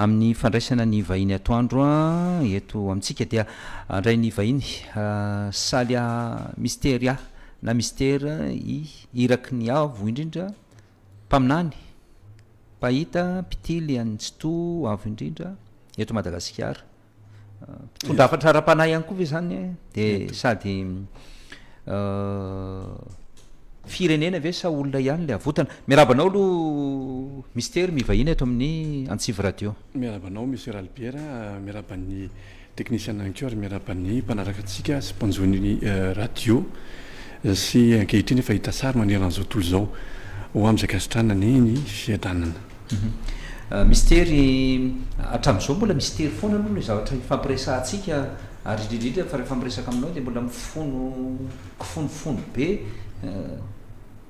Amin'ny fandraisana ny vahiny atoandro eto amintsika dia handray ny vahiny Salia Misteria na Mister I, iraky ny Avo indrindra, mpaminany, mpahita, mpitily an'i Tsitoha Avo indrindra eto Madagasikara. Mpitondra hafatra ara-panahy ihany koa ve izany eh? Dia sady firenena ve sa olona ihany ilay avotana? Miarahaba anao aloha Mister mivahina eto amin'ny Antsivo Radio. Miarahaba anao Monsieur Ralibiera, miarahaba ny technician ihany koa ary miarahaba ny mpanaraka antsika sy mpanjo ny radio sy ankehitriny efa hita sary manerana izao tontolo izao ho amin'izay gasitrana ny fiadanana. Mistery, hatramin'izao mbola mistery foana aloha ilay zavatra ifampiresahantsika ary indrindra indrindra fa rehefa miresaka aminao dia mbola mifono kifonofono be,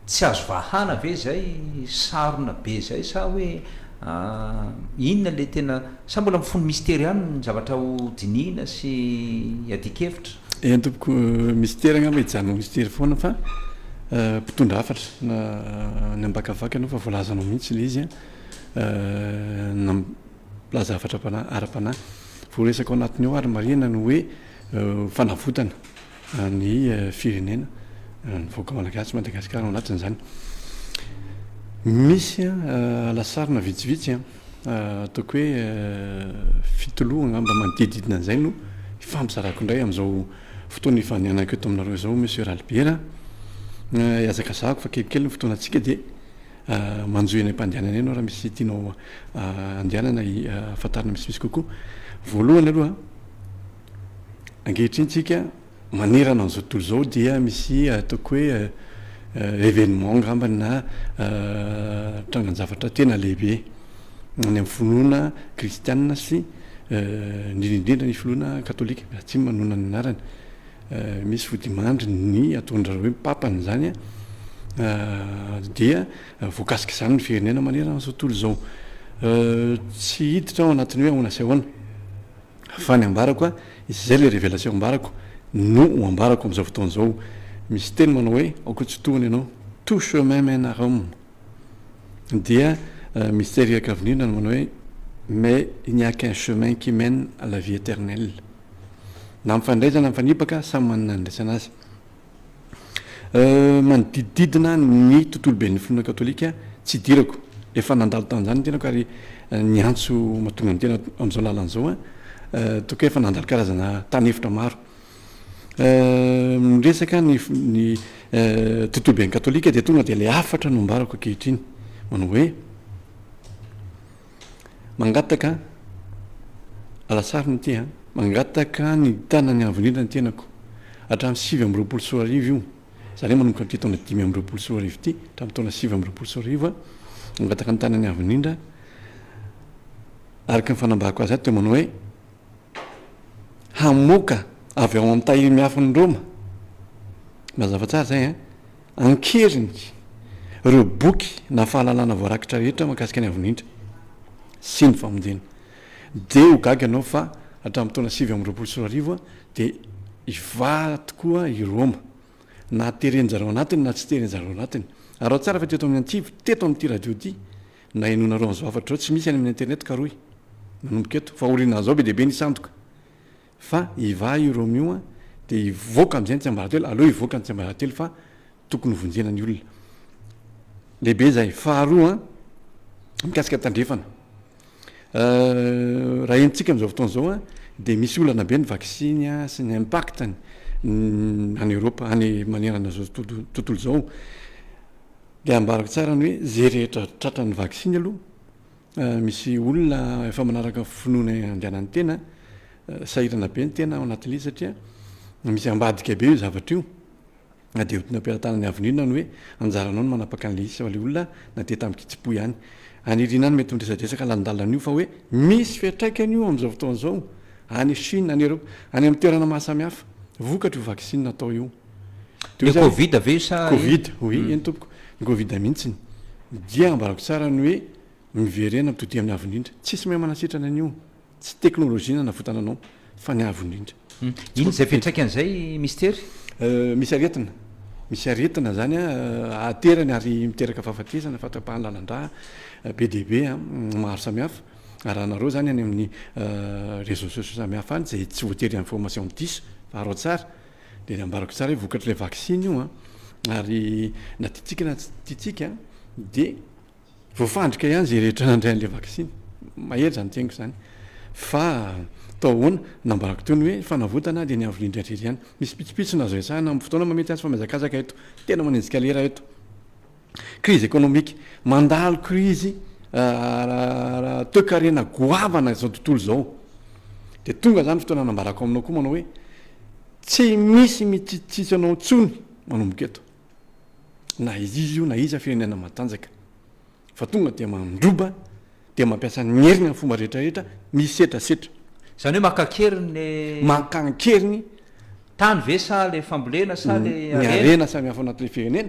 tsy azo vahana ve izay, sarona be izay sa hoe inona ilay tena, sa mbola mifono mistery ihany ny zavatra ho dinihina sy iadian-kevitra? Eny tompoko, Mister angamba hijanona ho Mister foana fa mpitondra hafatra na any am-bakavaka aloha fa voalazanao mihitsy ilay izy an, mpilaza hafatra ara-panahy. Vao resaka ao anatiny ao ary marihina ny hoe fanavotana ny firenena, ny vahoaka malagasy, Madagasikara ao anatin'izany. Misy lasarina vitsivitsy an. ataoko hoe fitoloha angamba manodidididina an'izay no ifampizarako indray amin'izao fotoana ifanianako eto aminareo izao Monsieur Ralibera an, ihazakazahako fa kelikely ny fotoanantsika dia manjohy any am-pandehanana ianao raha misy tianao andehanana hahafantarana misimisy kokoa, voalohany aloha ankehitriny tsika Manerana an'izao tontolo izao dia misy ataoko hoe événement angambany na trangan-javatra tena lehibe any amin'ny finoana kristianina sy indrindra indrindra ny finoana katolika atsimo manoana ny anarany. Misy vodimandry ny ataon-dry zareo hoe papa an'izany dia voakasik'izany ny firenena manerana an'izao tontolo izao. Tsy hiditra ao anatin'ny hoe ahoana sy ahoana. fa ny ambarako a, izay ilay révélation ambarako no ho ambarako amin'izao fotoana izao. Misy teny manao hoe aoka tsy tohana ianao, tout chemin mène à Rome. Dia Mistery Iakavinirina no manao hoe mais il n'y a qu'un chemin qui mène à la vie éternelle. Na mifandraiza na mifanipaka, samy manana ny andraisana azy. Manodidididina ny tontoloben'ny finoana katolika tsy idirako, efa nandalo tamin'izany ny tenako ary niantso mahatonga ny tena amin'izao lalana izao an, toa ka efa nandalo karazana tany efitra maro. Miresaka ny ny tontoloben'ny katolika dia tonga dia ilay hafatra no ambarako ankehitriny manao hoe. Mangataka alasary no tia an! Mangataka ny tanany havolena ny tenako hatramin'ny sivy amby roapolo sy roa arivo io, izany hoe manomboka amin'ity taona dimy amby roapolo sy roa arivo ity hatramin'ny taona sivy amby roapolo sy roa arivo an! Mangataka ny tanany avo indrindra araka ny fanambarako azy ato dia manao hoe hamoaka avy ao amin'ny tahiry miafin'ny Roma. Mazava tsara izay an! An-keriny, ireo boky na fahalalana voarakitra rehetra mahakasika ny Avondrindra sy ny famonjena dia ho gaga ianao fa hatramin'ny taona sivy amby roapolo sy roa arivo dia hivaha tokoa i Roma, na teren-dry zareo anatiny na tsy teren-dry zareo anatiny. Araho tsara fa teto amin'ny antsivo, teto amin'ity radio ity, na henoinareo an'izao hafatra izao, tsy misy any amin'ny internet karohy, manomboka eto, fahoriana an'izao be dia be ny sandoka. Fa hivaha i Romeo a, dia hivoaka amin'izay ny tsiambaratelo, aleo hivoaka ny tsiambaratelo fa tokony hovonjena ny olona. Lehibe izay. Faharoa an, mikasika ny tandrefana. Raha henontsika amin'izao fotoana izao an, dia misy olana be ny vaksiny an, sy ny impact-ny any Europe, any manerana izao tontolo tontolo izao. Dia ambarako tsara ny hoe, izay rehetra tratran'ny vaksiny aloha, Misy olona efa manaraka finoana andianan'ny tena, sahirana be ny tena ao anatin'izy satria misy ambadika be io zavatra io. Na dia otina am-pelatanana ny avenue na ny hoe anjaranao ny manapaka an'ilay izy sao ilay olona na dia tamin-kitsim-po ihany. Any Irina any mety ho niresadresaka lalindalina an'io fa hoe misy fiantraikany io amin'izao fotoana izao any Chine, any Europe, any amin'ny toerana mahasamihafa, vokatry io vaksiny natao io. Dia hoe covid ve io sa ino? Covid, oui, eny tompoko. Ny covid mihitsiny. Dia ambarako tsara ny hoe miverena amin'ny todiaviny avo indrindra. Tsisy mahay manasitrana an'io. Tsy teknolojia nanavotana anao fa ny avo indrindra. Inona izay fiantraikany izay Mister? Misy aretina. Misy aretina izany ahaterany ary miteraka fahafatesana, fahatrapahana lalandrà be dia be maro samihafa. Arahanareo izany any amin'ny réseaux sociaux samihafa any izay tsy voatery information diso fa araho tsara. Dia nambarako tsara hoe vokatr'ilay vaksiny io an, ary na tiantsika na tsy tiantsika dia voafandrika ihany izay rehetra nandray an'ilay vaksiny. Mahery izany teniko izany. Fa tao ahoana? Nambarako toy ny hoe fanavotana dia ny avy indrindra ihany. Misy pitsopitsony azo resahana amin'ny fotoana maha mety azy fa mihazakazaka eto. Tena manenjika lera eto. Crise économique, mandalo crise toekarena goavana izao tontolo izao. Dia tonga izany fotoana hanambarako aminao koa manao hoe tsy misy mitsitsitsy anao intsony manomboka eto. Na iziza io na iza firenena matanjaka fa tonga dia mandroba dia mampiasa ny heriny amin'ny fomba rehetra rehetra misetra setra. Izany hoe maka an-keriny le. Maka an-keriny. Tany ve sa le fambolena sa le harena. Ny harena samy hafa ao anatin'ilay firenena.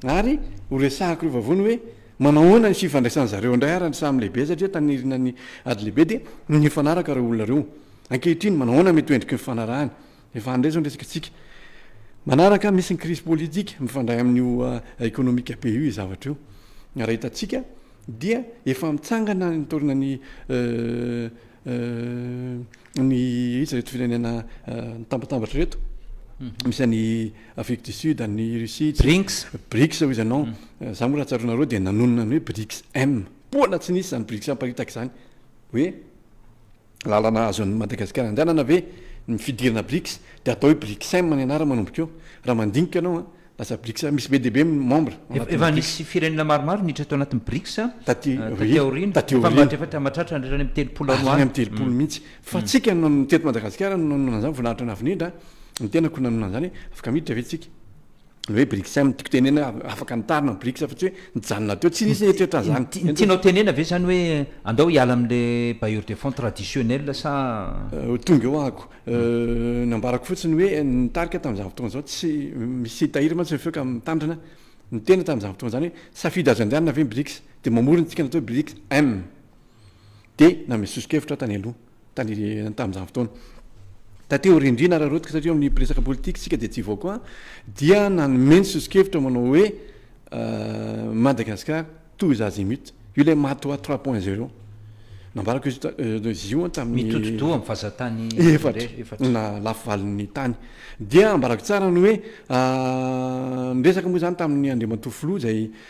Ary ho resahako ireo vavony hoe manao ahoana ny fifandraisan'ny zareo indray ary ny samy lehibe satria tanirina ny ady lehibe dia nifanaraka ireo olona ireo. Ankehitriny manao ahoana mety ho endriky ny fifanarahany. Efa handray zao ny resakantsika manaraka, misy ny crise politique mifandray amin'io economique be io zavatra io, raha hitantsika dia efa mitsangana ny taorina ny ny iza reto firenena mitambatambatra reto, mhm. misy any Afrique du Sud, any Russie, BRICS, BRICS hoy izy anao, mhm. za moa raha tsaronareo dia nanonona ny hoe BRICS M, poana tsy nisy zany BRICS amparitaka izany hoe Lalana azon'i Madagasikara andehanana ve ny fidirana Brics? Dia atao hoe Bricsm ny anarany manomboka eo. Raha mandinika ianao an, lasa Brics an, misy be dia be ny membre ao anatin'ny Brics. Efa nisy firenena maromaro niditra tao anatin'ny Brics taty aoriana. Taty aoriana. Efa efa mahatratra hatrany amin'ny telopolo any ho any. Hatrany amin'ny telopolo mihitsy. Fa tsika no teto Madagasikara no nanonona an'izany, voninahitra nahafinindra an, ny tenako no nanonona an'izany hoe afaka miditra ve tsika? ny hoe Brics zany tiako tenena hoe afaka nitarina ny Brics fa tsy hoe nijanona teo, tsy nisy eritreritra an'izany. Ny tianao tenena ve zany hoe andao hiala amin'le bailleur de fonds traditionnel sa. Ho tonga eo ahako. Nambarako fotsiny hoe ny tarika tamin'izany fotoana izany tsy misy hitahiry mantsy ny feo ka mitandrina, ny tena tamin'izany fotoana izany hoe safidy azo andehanana ve ny Brics? dia mamory ny dikany atao hoe Brics M. Dia nanome soso-kevitra aho tany aloha, tany tamin'izany fotoana. Taty aoriandriana ary arotoka satria eo amin'ny resaka politika isika dia tsy hivoa koa aho, dia nanome ny soso-kevitra manao hoe Madagascar tous azimuts. Io ilay Matoa trois point zero. Nambarako izy izy io tamin'ny. Mitodi-doha amin'ny vazan-tany efatra. Efatra. Na lafo valin'ny tany. Dia ambarako tsara ny hoe, ny resaka moa izany tamin'ny Andriamatoa Filoha izay.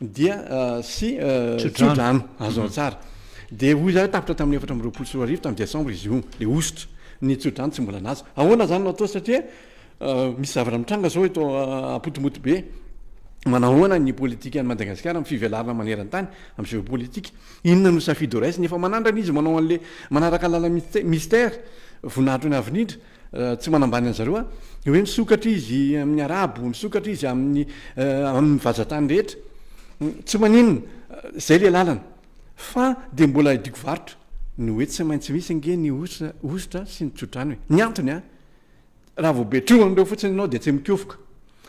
dia sy tsodrano azo ao tsara dia hoy zany tapitra tamin'ny efatra amby roapolo sy roa arivo tamin'ny desambra izy io le hosotra ny tsodrano tsy mbola naza ahoana zany no atao satria misy zavatra mitranga zao eto apotomoto be manahoana ny politika any Madagasikara amin'ny fivelarana maneran-tany amin'ny géopolitique inona no safidy ho raisina efa manandrana izy manao an'le manaraka lala mystère voninahitro ny avenidra Tsy manambany an'i zareo aho. Hoe misokatra izy amin'ny Arabo, misokatra izy amin'ny amin'ny vazatany rehetra. Tsy maninona, izay ilay lalana. Fa dia mbola idiako varotra. Ny hoe tsy maintsy misy ange ny hosotra hosotra sy ny tsodrano e. Ny antony an! Raha vao be trohany ireo fotsiny ianao dia tsy mikofoka.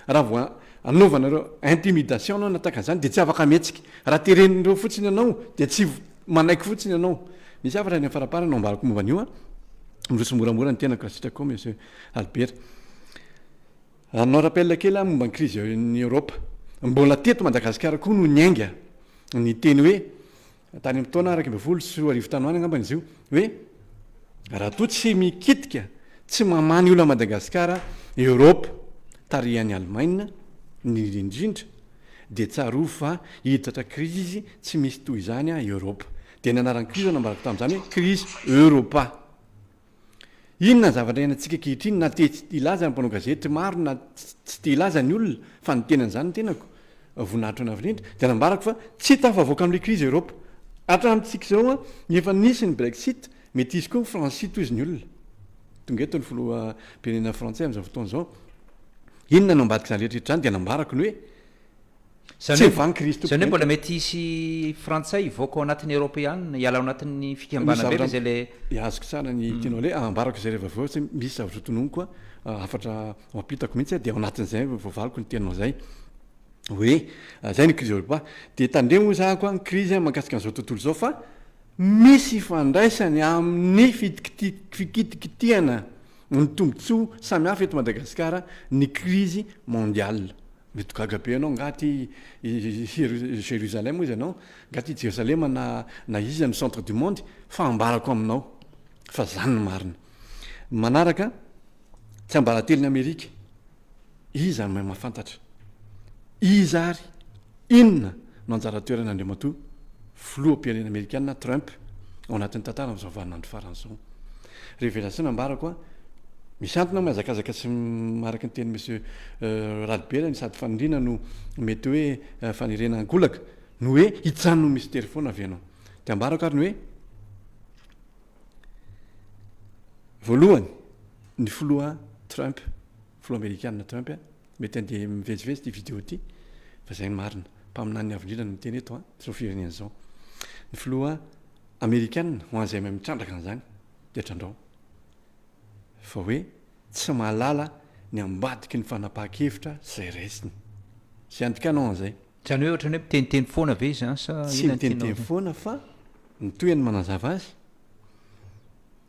Raha vao anaovana ireo intimidation ianao na tahaka an'izany dia tsy afaka mihetsika. Raha teren'ireo fotsiny ianao dia tsy manaiky fotsiny ianao. Misy hafatra any amin'ny faraparany no ambarako momba an'io an. Miroso moramora ny tenako raha sitrako koa Monsieur Albert. Hanao rappel kely aho momba ny crise any Europe. Mbola teto Madagasikara koa no niainga ny teny hoe. tany amin'ny taona iraika ambin'ny folo sy roa arivo tany ho any angambany izy io hoe raha toa tsy mikitika tsy mamany olona Madagasikara Europe tarihan'i Allemagne ny indrindra dia tsarovy fa hiditra krizy tsy misy toy izany Europe dia ny anaran'ny krizy nambarako tamin'izany hoe krizy Europa Inona ny zavatra iainantsika ankehitriny na te hilaza ny mpanao gazety maro na tsy te hilaza ny olona fa ny tenany izany ny tenako, voninahitra ho anao indrindra, dia nambarako fa tsy hita hafavoaka amin'ilay krizy Eoropa. Hatramin'ny tsy kizao an, efa nisy ny Brexit, mety hisy koa ny Francie tohizo ny olona. Tonga eto ny filoham-pirenena frantsay amin'izao fotoana izao. Inona no ambadik'izany rehetra rehetra izany dia nambarako ny hoe, Tsy evan'i Kristy Izany hoe mbola mety hisy Frantsay hivoaka ao anatin'ny Eoropeana, hiala ao anatin'ny fikambanana be ve izay ilay. Azoko tsara ny tianao le, ambarako izay rehefa avy eo satria misy zavatra hotononiko a, hafatra mampitako mihitsy a, dia ao anatin'izay vao voavaliko ny teninao izay hoe, izay ny krizy Eoropa. Dia tandremo hoy zahako a, ny krizy a mahakasika an'izao tontolo izao fa misy ifandraisany amin'ny fitikiti- fikitikitihana ny tombontsoa samihafa eto Madagasikara ny krizy mondiale. Mety gaga be ianao, Nga aty Jerusalem hoy izy anao? Nga aty Jerosalema na na iza no centre du monde? Fa ambarako aminao fa izany no marina. Ny manaraka, Tsiambaratelon'i Amerika, iza no mahay mahafantatra? Iza ary? Inona? no anjara toeran' Andriamatoa Filoham-pirenena Amerikana Trump ao anatin'ny tantara amin'izao vaninandro farany izao. Révélation nambarako a! Misy antony aho mihazakazaka sy araka ny tenin'i Monsieur Ralibera ny sady faniriana no mety hoe faniriana ankolaka no hoe hijanon'ny Mistery foana avy ianao. Dia ambarako ary ny hoe, Voalohany, ny Filoha Trump Filoha Amerikana Trump a! Mety handeha mivezivezy ity video ity fa zay ny marina. Mpaminany avo indrindra no miteny eto a! Zao firenena zao. Ny Filoha Amerikana ho an'izay mahay mitrandraka an'izany dia trandrao fa hoe tsy mahalala ny ambadiky ny fanapahan-kevitra zay raisiny. Zay andikana ao an'izay. Zany hoe ohatrany hoe miteniteny foana ve izany sa inona no tianao? Tsy miteniteny foana fa ny tohiny manazava azy,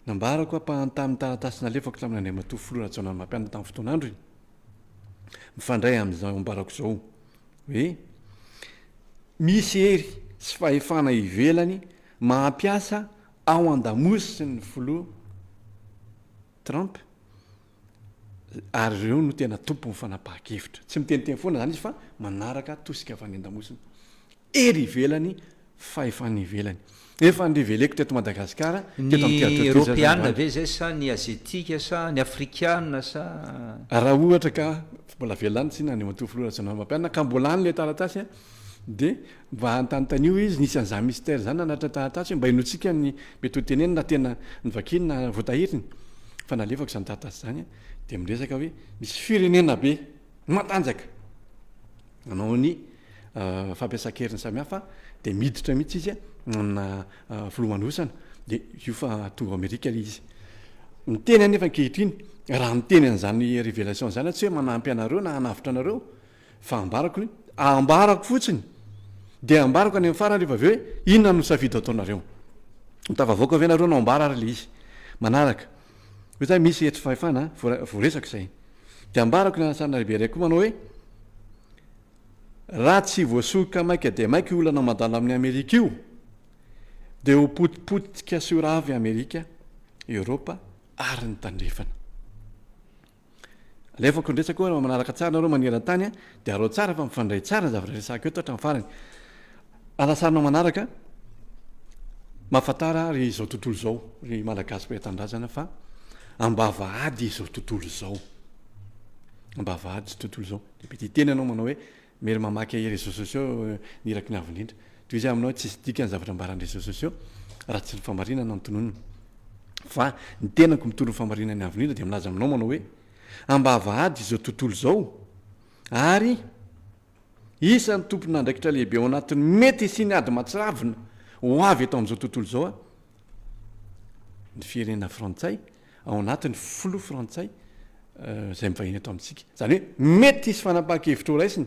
Nambarako ampahany tamin'ny taratasy nalefako tamin' Andriamatoa Filoha Rajaonarimampianina tamin'ny fotoan'androny, mifandray amin'izao ambarako izao, hoe misy hery sy fahefana ivelany maha mpiasa ao an-damosiny ny Filoha Trump, ary ireo no tena tompon'ny fanapahan-kevitra. Tsy miteniteny foana izany izy fa manaraka tosika avy any an-damosina, ery ivelany, fahefana ivelany. Efa andreveleko teto Madagasikara, teto amin'ny Terra Turquie izao izany Eoropeana ve izay sa ny Aziatika sa ny Afrikana sa? Raha ohatra ka mbola velona any Tsina, ny matoa Filoha Rajaonarimampianina, ka mbola any ilay taratasy, Dia mba anontanontanio izy, nisy an'izany mystère izany nanatitra taratasy hoe mba henoantsika ny mety ho teneniny na tena novakiny na voatahiriny. Fa nalefako izany taratasy izany dia miresaka hoe misy firenena be matanjaka nanao ny fampiasan-keriny samihafa dia miditra mihitsy izy amina filomanosana dia io fa tonga ao Amerika ilay izy. Miteny aho nefa ankehitriny raha miteny an'izany révélation izany aho tsy hoe manampy anareo na hanavotra anareo Fa ambarako ny, ambarako fotsiny, dia ambarako any amin'ny farany rehefa avy eo hoe inona no safidy ataonareo. Ho tafavoaka ve nareo no ambara ary ilay izy manaraka? Ohatra hoe misy hetry fahefana voaresaka izay. Dia ambarako ny anasanana lehibe iray koa manao hoe raha tsy voasoroka maika dia maika io olana mandalo amin'i Amerika io, dia ho potipotika sy ho rava i Amerika, Eoropa ary ny Tandrefana. Alefako ny resako raha manaraka tsara nareo maneran-tany a, de arao tsara fa mifandray tsara ny zavatra resahiko eto hatramin'ny farany. Alasarina manaraka, mahafantara ry izao tontolo izao, ry Malagasy mpiray tanindrazana fa ambavahady izao tontolo izao, ambavahady izao tontolo izao. Dia mety hiteny ianao manao hoe Miery mamaky ahy réseaux sociaux ny iraky ny avo indrindra. Tohizo ahy aminao tsisy dikany zavatra ambaran'ny réseaux sociaux raha tsy ny famarinana no tononina. Fa ny tenako mitory ny famarinan'ny avo indrindra dia milaza aminao manao hoe ambavahady izao tontolo izao ary isan'ny tompon'andraikitra lehibe ao anatin'ny mety hisian'ny ady mahatsiravina ho avy eto amin'izao tontolo izao aho. Ny firenena frantsay ao anatin'ny filoha frantsay izay mivahiny eto amintsika. Izany hoe mety hisy fanapahan-kevitra ho raisina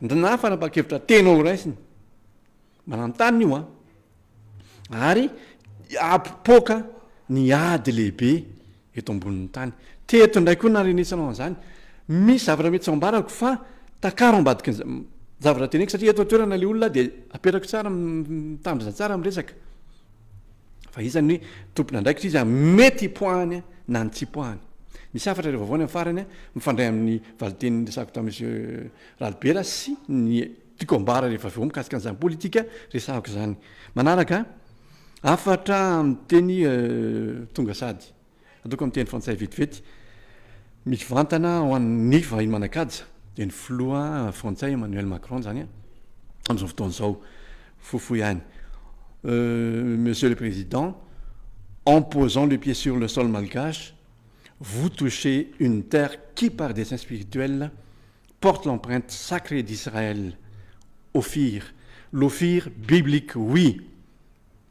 na fanapahan-kevitra tena ho raisina. Mananontany io an. Ary apopoaka ny ady lehibe eto ambonin'ny tany. Teto indray koa narenesanao an'izany. Misy zavatra mety tsy ao ambarako fa takaro ambadiky ny zavatra teneniko satria eto an-toerana ilay olona dia apetrako tsara, mitandrina tsara amin'ny resaka. Fa iza ny tompon'andraikitra, iza mety hipoahany na ny tsy hipoahany. Misy hafatra iray vaovao any amin'ny farany, mifandray amin'ny valinteny niresahako tamin'i Monsieur Ralibera sy ny tiako ambara rehefa avy eo mikasika an'izany politika resahako izany. Manaraka hafatra amin'ny teny tonga sady. Ataoko amin'ny teny frantsay vetivety, mivantana ho an'ny nefa i Manakaja dia ny filoha frantsay Emmanuel Macron izany an, amin'izao fotoana izao, fohifohy any, Monsieur le Président, en posant le pied sur le sol malgache, vous touchez une terre qui par dessein spirituel porte l'empreinte sacrée d'Israël, Ophir, l'Ophir biblique oui!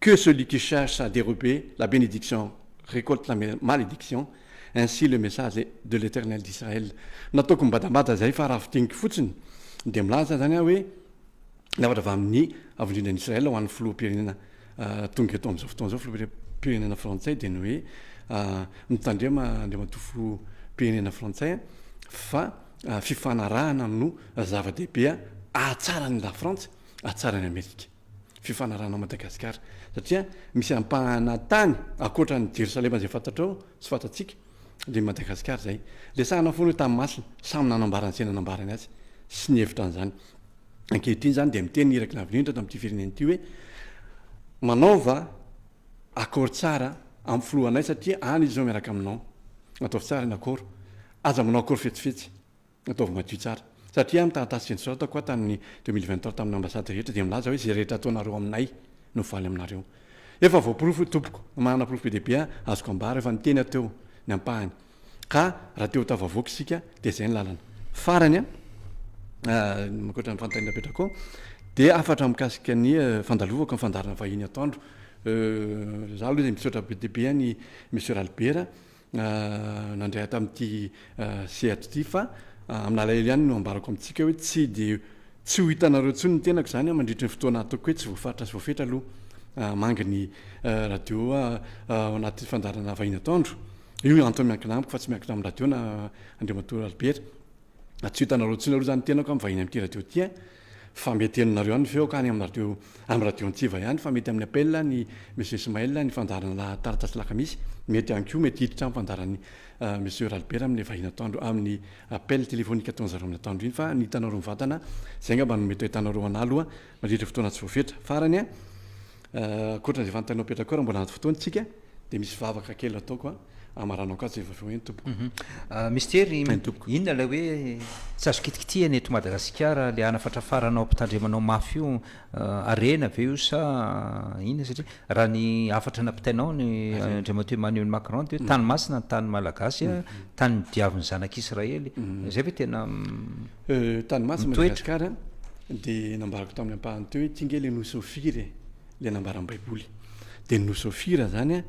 Que celui qui cherche à derober la bénédiction récolte la malédiction, ainsi le message de l'Eternel d'Israël. Nataoko mibadabada izay fa raha fintiniko fotsiny dia milaza izany aho hoe niafatra avy amin'ny Avondrinan'i Israël ho an'ny Filoham-pirenena tonga eto amin'izao fotoana izao, Filoham-pirenena frantsay dia ny hoe mitandrema Andriamatoa Filoham-pirenena frantsay fa fifanarahana no zava-dehibe hahatsara an'i Lafrantsa, hahatsara an'i Amerika. fifanarahana Madagasikara satria misy ampahana tany akoatra ny Jerosalema izay fantatrao sy fantatsika le Madagasikara izay resahana foana io tany masina samy nanambara ny izay nanambarany azy sy ny hevitra an'izany ankehitriny izany dia miteny iraky lavinindra tamin'ity firenena ity hoe manaova akôro tsara amin'ny filohanay satria any izy izao miaraka aminao ataovy tsara ny akôro aza manao akôro fetsifetsy Ataovy madio tsara. Satria aho ny taratasy fensoratako aho tamin'ny deux mille vingt trois tamin'ny ambasady rehetra dia milaza hoe izay rehetra ataonareo aminay no valy aminareo. Efa voaporofo io tompoko, manana porofo be dia be aho azoko ambara, efa niteny aho teo ny ampahany. Ka raha te ho tafavoaka isika dia izay ny lalana. Farany an, ankoatra ny fanontaniana apetrakao dia hafatra mikasika ny fandalovako ny fandaharana vahiny atoandro. Izaho aloha dia misaotra be dia be an i Monsieur Ralibera nandray ahy tamin'ity sehatra ity fa amin'alahelo ihany no ambarako amintsika hoe tsy dia tsy ho hitanareo intsony ny tenako izany mandritry ny fotoana ataoko hoe tsy voafaritra sy voafetra aloha mangy ny radio ao anaty fandaharana vahiny atoandro io ny antony miankina amiko fa tsy miankina amin'ny radio na Andriamatoa Albert tsy ho hitanareo intsony aloha izany ny tenako amin'ny vahiny amin'ity radio ity Fa mety henonareo any feo ka any am radio am radio antsiva ihany fa mety amin'ny appel ny Monsieur Ismaël ny fandaharana lahataratasy lakamisy mety ihany koa mety hiditra am fandaharan'i Monsieur Ralibera amin'ny vahiny atoandro amin'ny appel téléphonique ataon'zareo amin'ny atoandro iny fa ny hitanareo mivantana zay ngamba no mety ahitanareo anah aloha mandritra fotoana tsy voafetra farany an ankoatran'izay fanontaniana petracor mbola anaty fotoana isika Dia misy vavaka kely ataoko a, amaranako atsy rehefa avy eo eny tompoko. Mister, inona ilay hoe tsy azo kitikitihina eto Madagasikara, ilay hanafatrafaranao ampitandremanao mafy io, harena ve io sa inona satria raha ny hafatra nampitainao ny Andriamatoa Emmanuel Macron dia hoe tany masina ny tany malagasy a, tany nodiavin'ny zanak'Israely, izay ve tena mitoetra? Tany masina Madagasikara dia nambarako tamin'ny ampahany teo hoe ity nge ilay nosy Ofira e! le nambaran'ny baiboly de ny nosy ofira zany a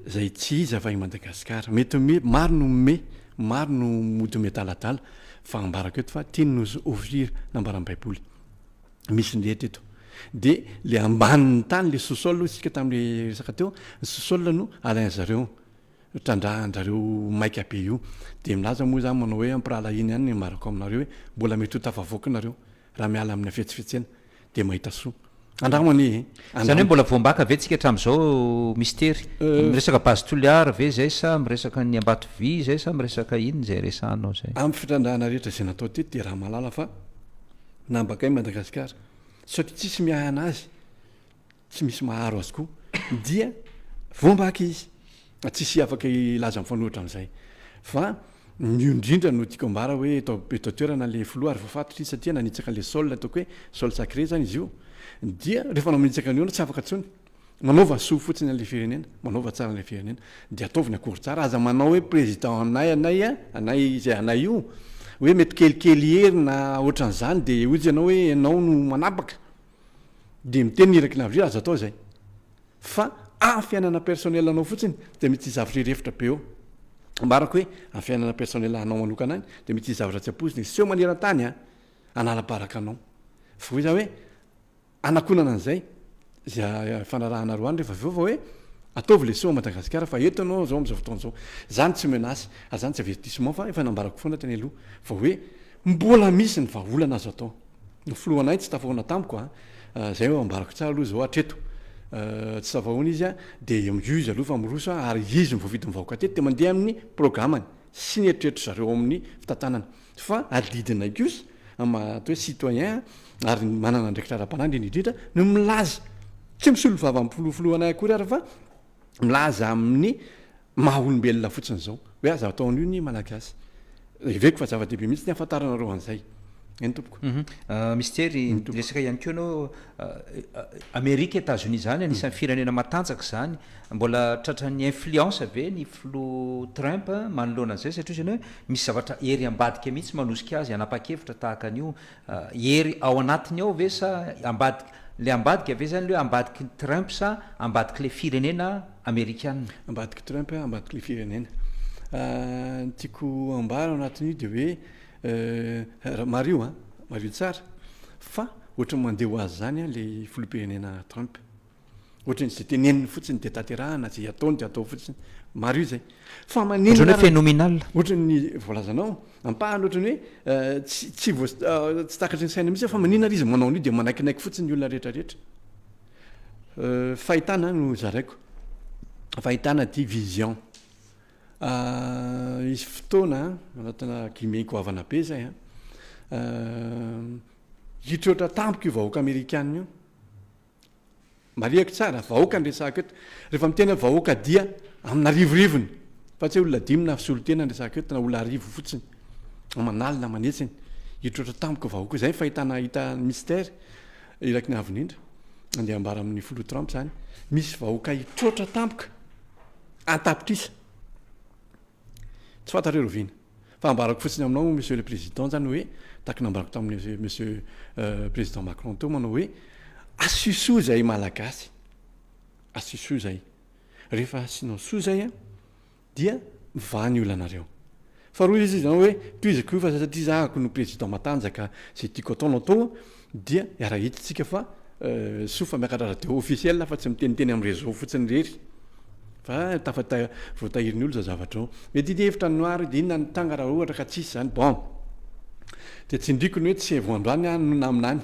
zay tsy izy avy any madagasikara mety ome maro no ome maro no mody ome adaladala fa ambarako eto fa teny nosy ofira nambaran'ny baiboly misy ny rehetra eto de le ambanin'ny tany le sosol hoy isika tam'le resaka teo ny sosol no alain zareo trandrahanjareo maika be io de milaza moa zany manao hoe ampirahalahiana ihany ny ambarako aminareo hoe mbola mety ho tafavoaka nareo raha miala amin'ny hafetsifetsena dia mahita soa. Andramo anie e! Andramo. Izany hoe mbola voambaka ve tsika hatramin'izao Mistery? Miresaka base Toliara ve izay sa miresaka ny Ambatovy izay sa miresaka inona izay resahanao izay? Amin'ny fitrandrahana rehetra izay natao teto dia raha mahalala fa nambakay Madagasikara satria tsisy miahana azy. Tsy misy maharo azy koa dia voambaka izy. Tsisy afaka hilaza mifanohitra amin'izay. Fa ny io indrindra no tiako ambara hoe eto eto an-toerana ilay filoha ary voafatotra izy satria nanitsaka an'ilay sol ataoko hoe sol sacré izany izy io. Dia rehefa manitsaka an'io ianao tsy afaka intsony. Manaova soa fotsiny an'ilay firenena, manaova tsara an'ilay firenena. Dia ataovy ny accord tsara. Aza manao hoe président anay anay a, anay izay anay io. Hoe mety kelikely hery na ohatran'izany dia hoy izy ianao hoe ianao no manapaka. Dia miteny ny iraky ny avril aza atao izay fa amin'ny fiainana personnel anao fotsiny dia mety hisy zavatra hirefotra be eo ambarako hoe amin'ny fiainana personnel anao manokana any dia mety hisy zavatra tsy ampoizina hiseho maneran-tany an hanala-baraka anao fa hoy za hoe hanakonana an'izay izay ifanarahana roa any rehefa avy eo fa hoe ataovy le soa an'i Madagasikara fa eto ianao izao amin'izao fotoana izao izany tsy menace ary izany tsy avertissement fa efa nambarako foana teny aloha fa hoe Mbola misy ny vahaolana azo atao. Ny filohanay tsy tafahoana tamiko a, zay no ambarako tsara aloha zao hatreto. Tsy tafahoana izy a, dia io izy aloha fa miroso a, ary izy no voafidy mivaoka hatreto, dia mandeha amin'ny programany sy ny eritreritr'i zareo ao amin'ny fitantanana. Fa adidinay kosa, maha atao hoe citoyen ary manana andraikitra ara-panahy indrindra indrindra, ny milaza, tsy misolo vava amin'ny filohanay akory ary fa milaza amin'ny Maha olombelona fotsiny izao. Hoe aza atao an'io ny Malagasy. Heveko fa zava-dehibe mihitsy ny hahafantaranareo an'izay. Eny tompoko. Mistery, niresaka ihany koa ianao Amerika, Etazonia izany, anisan'ny firenena matanjaka izany. Mbola tratran'ny influence ve ny Filoha Trump manoloana an'izay? Satria hoy izy ianao hoe misy zavatra ery ambadika mihitsy manosika azy hanapa-kevitra tahaka an'io. Hery ao anatiny ao ve sa ambadiky le ambadika ve zany le ambadiky Trump sa ambadiky le firenena amerikana? Ambadiky Trump ambadiky le firenena. Ny tiako ambara ao anatin'io de hoe mariho an, mariho tsara fa ohatran'ny mandeha ho azy zany an le filoham-pirenena Trump. Ohatry ny izay teneniny fotsiny dia tanterahana, izay ataony dia atao fotsiny. Marina izay. Fa maninona ary? Ohatry ny hoe phenomenal. Ohatry ny voalazanao, ampahany ohatry ny hoe tsy tsy voa tsy takatry ny saina mihitsy fa maninona ary izy manao an'io dia manaikinaiky fotsiny ny olona rehetra rehetra. Fahitana no zaraiko. Fahitana dia vision. Hisy fotoana anatina guillemets goavana be izay an, hitroatra tampoka io vahoaka amerikana io. Marihako tsara, vahoaka no resahako eto. Rehefa miteny hoe vahoaka dia amin'arivorivony, fa tsy hoe olona dimy na solon-tena no resahako eto, na olona arivo fotsiny, aman'alina, aman'hetsiny. Hitroatra tampoka vahoaka. Izay ny fahitana hita Mister Irak'i Navonindra. Andeha ambara amin'ny Filoha Trump izany. Misy vahoaka hitroatra tampoka, an-tapitrisa. Tsy fantatr'i Rovina. Fa ambarako fotsiny aminao Monsieur le Président zany hoe, tahaka ny nambarako tamin'ny Monsieur Président Macron teo manao hoe, asio soa izay Malagasy, asio soa izay. Rehefa asianao soa izay an, dia mivaha ny olanareo. Faharoa izy izany hoe, tohizako io fa satria zahako no Président matanjaka, izay tiako atao no atao, Dia iara-hidintsika fa soa fa miakatra radio officiel aho fa tsy miteniteny amin'ny réseau fotsiny irery fa tafata voatahirin'ny olona izao zavatra ao. Mety ity hevitra an'i Noir ity, inona ny tranga raha ohatra ka tsisy izany? Bon! Dia tsindriako ny hoe tsy vao androany aho no naminany.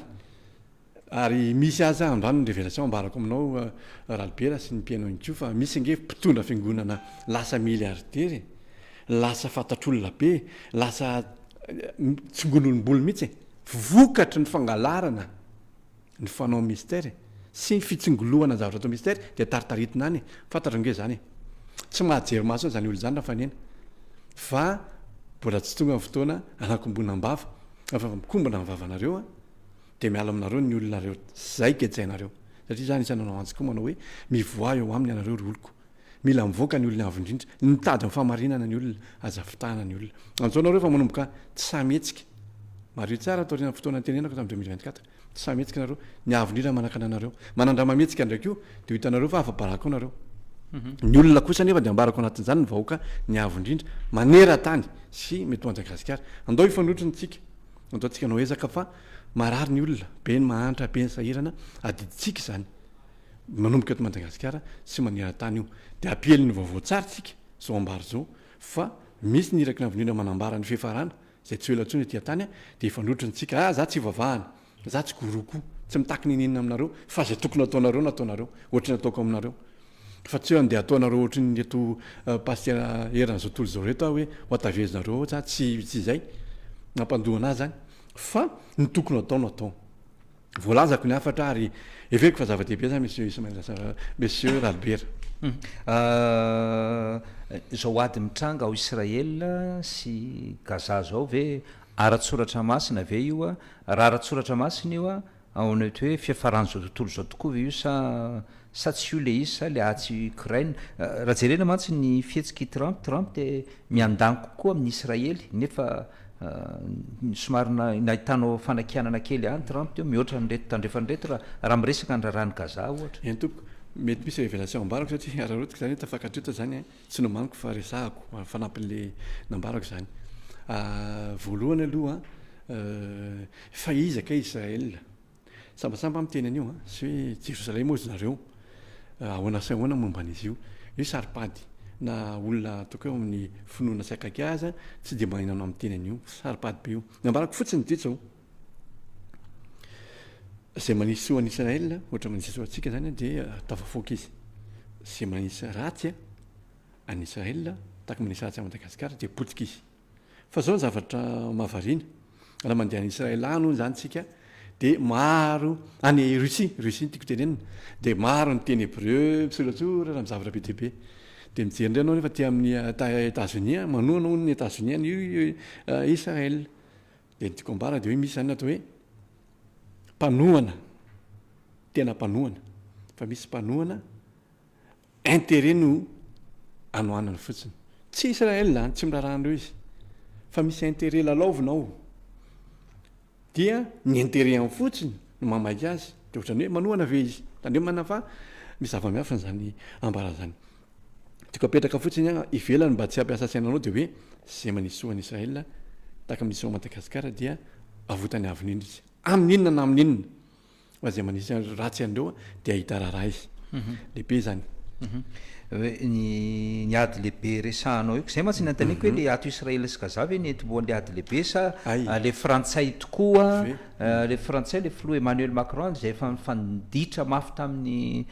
Ary misy aza androany ny révélation ambarako aminao Ralibera sy ny mpihaino ihany koa fa misy ange mpitondra fiangonana lasa milliardaire e! Lasa fantatr'olona be e! Lasa tsongon'olom-bolo mihitsy e! Vokatry ny fangalarana ny fanao Mister e! sy ny fitsingoloana ny zavatra atao Mister dia taritaritina any e! fantatrao nge zany e! tsy mahajery maso any zany olona zany Rafanena fa mbola tsy tonga ny fotoana hanakombona ny vava fa efa mikombona ny vavanareo a! dia miala aminareo ny olona nareo zay gejainareo satria za anisan'ny nanao antsy koa manao hoe mivoaha eo aminy ianareo ry oloko Mila mivoaka ny olona avo indrindra. Nitady ny fahamarinana ny olona. Aza fitahana ny olona. Antsoina ireo fa manomboka tsy sahy mihetsika. Mariho tsara ato aorianan'ny fotoana nitenenako tamin'ny deux mille vingt quatre. Tsy sahy mihetsika nareo. Ny avo indrindra manakana anareo. Manandrama mihetsika indray koa dia ho hitanareo fa afa-baraka ao nareo. Ny olona kosa anefa dia ambarako anatin'izany ny vahoaka ny avo indrindra maneran-tany sy mety ho Anjagasikara. Andao hifanohitra ny tsika. Ataontsika anao ezaka fa marary ny olona. Be ny mahantra, be ny sahirana. Adidintsika izany. Manomboka eto Madagasikara sy maneran-tany io dia hampiely ny vaovao tsara isika izao ambara izao fa misy ny iraky ny havonena manambara ny fiafarana izay tsy ho ela intsony aty an-tany dia hifanohitra antsika ah za tsy hivavahana za tsy gourou koa tsy mitaky n'inon'inona aminareo fa izay tokony hataonareo no ataonareo ohatry ny ataoko aminareo fa tsy hoe andeha hataonareo ohatry ny reto pasitera eran'izao tontolo izao reto ah hoe ho hatavezinareo ao za tsy tsy izay nampandohana ahy zany fa ny tokony atao no atao. Voalazako ny hafatra ary heveriko fa zava-dehibe izany Monsieur Ismail Assaf, Monsieur Ralibera. Humm. Izao ady mitranga ao Israel sy Gaza izao ve ara-tsoratra masina ve io? Raha ara-tsoratra masina io, ao anaty hoe fiafaran'izao tontolo izao tokoa ve io sa sa tsy io le izy sa le atsy Ukraine? Raha jerena mantsy ny fihetsik'i Trump, Trump dia miandany kokoa amin'i Israely nefa Somary nahitanao fanakianana kely an Trump teo mihoatra an'ireto tandrefana ireto raha miresaka ny raharahan'i Gaza ohatra? Eny tompoko, mety misy révélation ambarako satria araraotiko izany hoe tafakatra eto izany an, tsy nomaniko fa resahako fanampin'ilay nambarako izany. Voalohany aloha an, fa iza kay Israël? Sambasamba miteny an'io an, sy hoe Jerosalema hozy nareo, ahoana sy ahoana momba an'izy io. Io hoe saro-pady, na olona tokoa eo amin'ny finoana tsy akaiky ahy aza tsy dia maninona amin'ny miteny an'io. Saro-pady be io. Ny ambarako fotsiny dia izao, izay manisy soa an'i Israël, ohatra manisy soa antsika izany, dia atao vafoaka izy. Izay manisy ratsy an'i Israël, tahaka ny manisy ratsy an'i Madagasikara, dia potika izy. Fa zao ny zavatra mahavariana, raha mandeha any Israel any hono zany tsika de maro, any Russie, Russie no tiako tenenina, de maro miteny hebreu, misoratsora, raha mizavatra be dia be. De mijery indray anao nefa aty amin'ny Etats Unis any, manohana hono ny Etats Unis any Israel. De ny tiako ambara de hoe misy zany ny atao hoe mpanohana, tena mpanohana, fa misy mpanohana Intérêt no anohanany fotsiny. Tsy Israël zany, tsy miraharaha an'ireo izy. Fa misy intérêt lalaovina ao. Dia ny intérêt-any fotsiny no mahamaika azy. Dia ohatrany hoe manohana ve izy? Tandremana fa misy zava-miafina izany ambarany izany. Tiako apetraka fotsiny an, ivelany mba tsy hampiasa sainanao dia hoe izay manesoa an'i Israël tahaka ny miseho an'i Madagasikara dia avotany avy indrindra izy. Amin'inona na amin'inona? Fa izay manisy azy ratsy an'ireo dia hahita raharahy lehibe izany. Hoe ny ny ady lehibe resahanao io, izay mantsy ny anontaniko hoe le ato Israel sy Gaza ve ny entim-boan'le ady lehibe sa Hay. le frantsay tokoa, Ve. le frantsay le filoha Emmanuel Macron izay efa nifanditra mafy tamin'i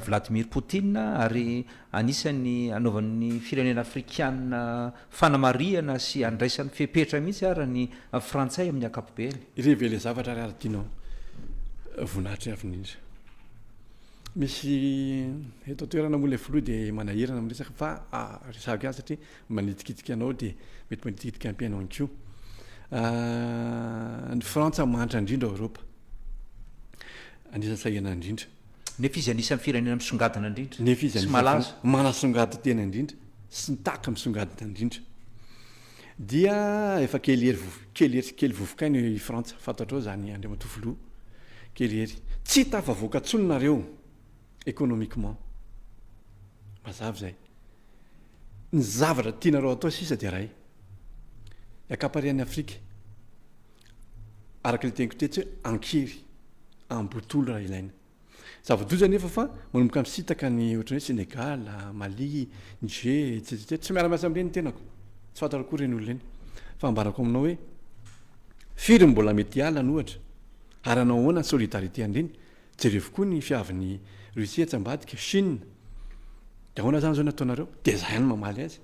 Vladimir Poutine ary anisan'ny anaovan'ny firenena afrikana Fanamarihana sy andraisany fepetra mihitsy ara ny frantsay amin'ny akapobeany. Révéler zavatra ary adinao voninahitry ny avenir. Misy eto an-toerana moa ilay filoha dia manahirana amin'ny resaka fa resahako ihany satria manitikitika anao dia mety manitikitika ampy anao ihany koa. Ny Frantsa mahantra indrindra ao Eoropa. Anisan'ny sahirana indrindra. Nefa izy anisan'ny firenena misongadina indrindra Nefa izy sy anisan'ny malaza. firenena manasongadin-tena indrindra sy ny tahaka misongadina indrindra dia efa kely hery vovo- kely hery kely vovokaina i Frantsa, fantatrao izany Andriamatoa Filoha, kely hery. Tsy hita afavoaka intsony nareo économiquement. Mazava izay. Ny zavatra tianareo atao sisa dia iray, ny ankamparian'i Afrika. araka ilay teniko tetsy hoe ankery, ambotolo raha ilaina. Zava-doza anefa fa manomboka misintaka ny ohatran'ny hoe Sénégal, Mali, Niger, etc etc. Tsy miara-miasa amin'ireny ny tenako, tsy fantako akory ireny olona ireny. Fa ambarako aminao hoe firy no mbola mety hiala any ohatra, ary hanao ahoana ny solidarité an'ireny Jerevo koa ny fiavin'i Russie etsy ambadika, Chine. De ahoana zany zao no ataonareo? De zay ihany no mamaly azy.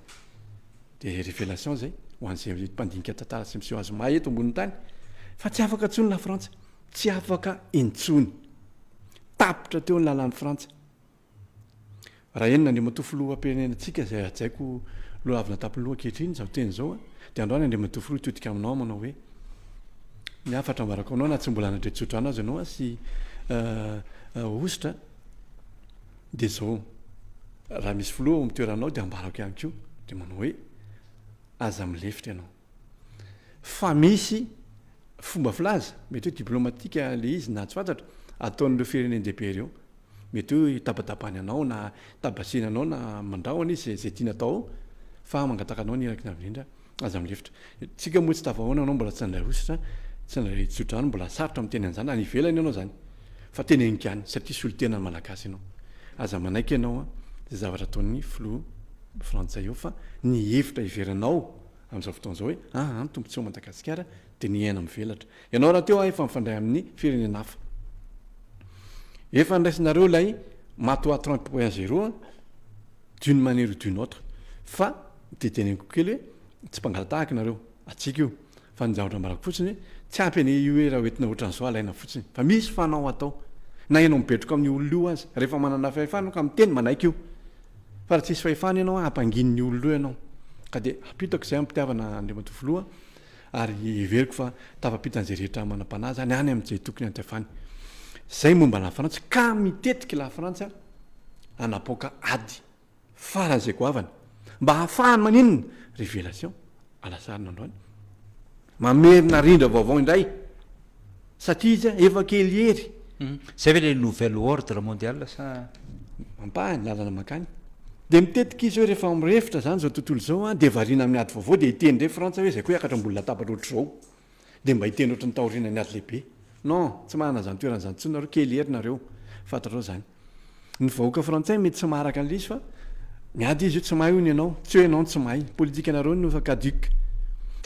De révélation zay ho an'izay mpandinika tantara sy miseho azy may eto ambonin'ny tany. Fa tsy afaka intsony Lafrantsa. Tsy afaka intsony. Tapitra teo ny lalan'i Frantsa. Raha henona Andriamatoa Filoham-pirenenantsika izay hajaiko lohavina an-tampoloha ankehitriny izao teny izao an, dia andao any Andriamatoa Filoha hitodika aminao aho manao hoe, ny hafatra ambarako aminao na tsy mbola hanadre tsodrano aza ianao an sy hosotra an, dia izao, raha misy Filoha ao amin'ny toeranao dia ambarako ihany koa, dia manao hoe, aza milefitra ianao. fa misy fomba filaza, mety hoe diplomatika le izy na tsy fantatra, ataon'ireo firenen-dehibe ireo. Mety hoe hitabatabany anao na hitabatsina anao na mandrahona izy izay tiany atao ao fa mangataka anao ny iraky ny avo indrindra aza milefitra. Tsika moa tsy tafahaona anao mbola tsy nandray hosotra, tsy nandray tsodrano, mbola sarotra miteny an'izany, any ivelany ianao izany fa teny haingàny satria solontenan'ny Malagasy ianao. Aza manaiky ianao izay zavatra ataon'ny filoha frantsay eo fa ny hevitra heveranao, amin'izao fotoana izao hoe ah an tompo tsy ao Madagasikara dia ny aina mivelatra ianao rahateo ahy efa mifandray amin'ny firenena hafa efa niraisinareo ilay matoa trente point zero a d'une manière ou d'une autre fa dia teneniko kely hoe tsy mpangalatahaka nareo atsika io fa ny zavatra ambarako fotsiny hoe tsy ampy anie io hoe raha hoentina ohatran'izao alaina fotsiny fa misy fanao atao na ianao mibetroka amin'ny olona io aza rehefa manana fahefana ka miteny manaiky io Fa raha tsisy fahefana ianao an, hampanginin'ny olona eo ianao. Ka dia ampitako izay amim-pitiavana Andriamatoa Filoha ary heveriko fa tafapitan'izay rehetra manam-panahy izany any amin'izay tokony hanjavany. Izay momba la France ka mitetika i la France hanapoaka ady faran'izay goavana mba hahafahany maninona? Révélation. Alasarina androany. Mamerina rindra vaovao indray satria izy efa kely hery. Zay ve le nouvel ordre mondial sa? Ampaha ny lalana mankany. Dia mitetika izy hoe rehefa mirefotra izany izao tontolo izao dia variana amin'ny ady vaovao dia hiteny indray Frantsa hoe zay koa hiakatra ambony latabatra ohatr'izao. Dia mba hiteny ohatry ny taorianan'ny ady lehibe. Non, tsy manana izany toerana izany intsony nareo, kely hery nareo, fantatrao izany. Ny vahoaka frantsay mety tsy maharaka an'ilay izy fa ny ady izy io tsy mahay hono ianao, tsy hoe ianao no tsy mahay, politikanareo no efa caduc.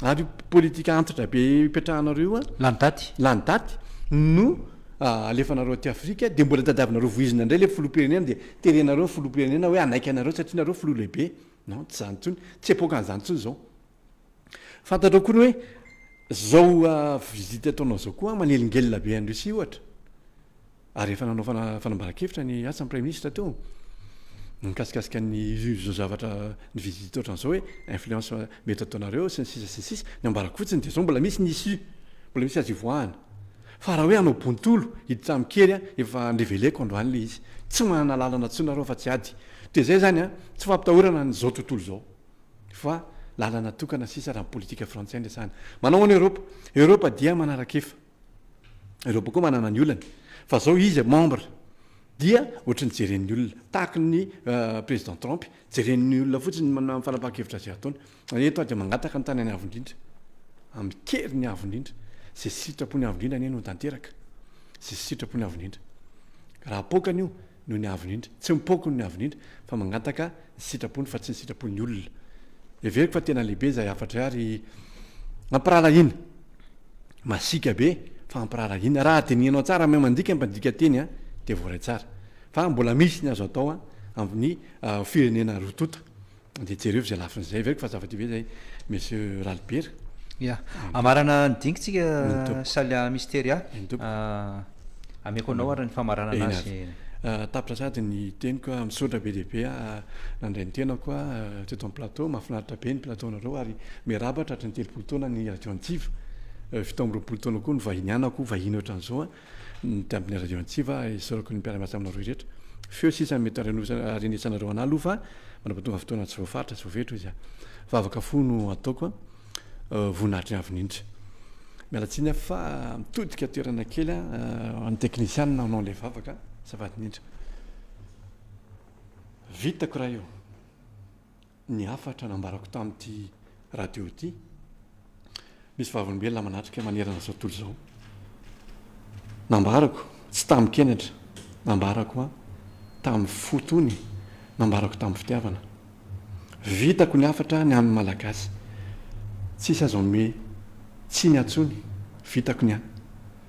Ary io politika antitra be ipetrahanareo io an, Lany daty. lany daty, no alefanareo aty Afrika, dia mbola tadiavinareo voizina indray ilay filoham-pirenena dia terenareo ny filoham-pirenena hoe hanaiky anareo satria nareo filoha lehibe. Non, tsy izany intsony, tsy epokan'izany intsony izao. Fantatrao koa ny hoe zao visite ataonao zao koa manelingelina be an'i Russie ohatra ary efa nanao fanambaran-kevitra ny asa ny praiminisitra teo nikasikasika ny izao zavatra ny visite ohatran'izao hoe influence mety ataonareo sy ny sisa sy ny sisa ny ambarako fotsiny dia zao mbola misy ny issue mbola misy azy ivoahana fa raha hoe hanao bontolo hiditra amin-kery a efa andreveleko androany ilay izy tsy manana lalana intsony nareo afa-tsy ady dia izay izany a tsy fampitahorana an'izao tontolo izao fa lalana tokana sisa raha ny politika frantsay no resahana. Manao ahoana Europa? Europa dia manaraka efa. Europa koa manana ny olany. Fa zao izy membre dia ohatry ny jeren'ny olona tahaka ny euh, président Trump, jeren'ny olona fotsiny ny fanapahan-kevitra izay ataony. Eto aho dia mangataka ny tanany avo indrindra, amin'ny keriny avo indrindra, izay sitrapony avo indrindra anie no tanteraka, izay sitrapony avo indrindra. Raha apoakany io noho ny aviny indry, tsy mipoako noho ny aviny indry fa mangataka ny sitrapony fa tsy ny sitrapon'ny olona. Heveriko fa tena lehibe izay hafatray ary ampiraharahiana. Masiaka be fa ampiraharahiana. Raha dinihanao tsara amin'ny maha mandika ny mpandika teny dia voaray tsara fa mbola misy ny azo atao amin'ny firenena roa tonta. Dia jereo izay lafiny izay ve fa zava-dehibe izay Monsieur Ralibera. Ia. Hamarana ny dingantsika Salia Misteria. Eny tompoko. Ameko anao ary ny famaranana Eny avy. azy. Tapitra sady ny teniko a! Misaotra be dia be aho nandray ny tenako a! teto amin'ny plateau. Mahafinaritra be ny plateau-nareo ary miarahaba tratry ny telopolo taona ny Radio Antsiva. Fito amby roapolo taona koa no vahinianako, vahiny ohatran'izao a! ny tambiny radio antsiva esorako ny mpiara-miasa aminareo rehetra feo sisa mety arenetsanareo anah aloha fa manao tonga fotoana tsy voafaritra tsy voafetra izy a vavaka fo no ataoko a voninahitry avy nindry miala tsiny aho fa mitodika toerana kely a an'ny teknisianina hanao ilay vavaka safady nindry vitako raha io ny hafatra nambarako tamin'ity radio ity, misy vavolombelona manatrika manerana izao tontolo izao. Nambarako, tsy tamin-kenatra, nambarako an, tamin'ny fo tony, nambarako tamin'ny fitiavana. Vitako ny hafatra ny an'ny Malagasy. Tsisy azo hanome tsiny antsony. Vitako ny an.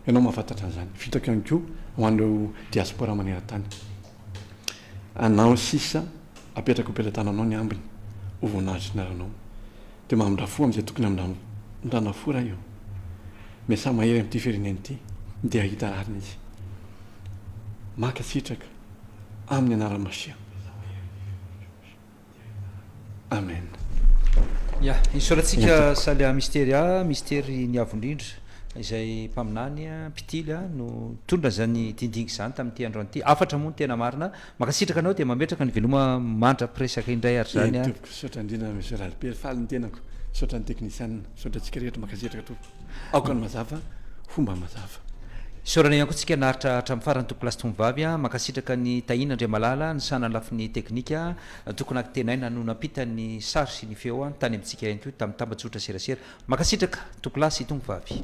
Ianao mahafantatra an'izany. Vitako ihany koa ho an'ireo diaspora maneran-tany. anao sisa apetrako am-pelatananao ny ambiny ho voninahitry ny anarnao de mamindra fo amzay tokony hamindrandrana fo ray o miasà mahery amty firenena ity de ahita rariny izy mankasitraka aminy anaran'i Masiah. Amen. Ya, isaorantsika Salia Misteria, Mistery ny Avo Indrindra, izay mpaminany, mpitily, no nitondra izany dingidingy izany tamin'ity androany ity. Hafatra moa ny tena marina. Mankasitraka anao dia mametraka ny veloma mandra-piresaka indray ary izany. Eny Tompoko, misaotra indrindra Monsieur Lallipiera, faly ny tenako. Misaotra ny teknisianina, misaotra antsika rehetra, mankasitraka Tompoko. Aoka ny mazava ho mba mazava. Isaorana ihany koa tsika naharitra hatramin'ny farany Tompoko Lahy sy Tompom-bavy a! Mankasitraka an'i Tahiana Andriamalala nisahana ny lafiny teknika a! Tompoko Nakitenaina no nampita ny sary sy ny feo a! Tany amintsika ihany koa tamin'ny tambajotra serasera. Mankasitraka Tompoko Lahy sy Tompom-vavy.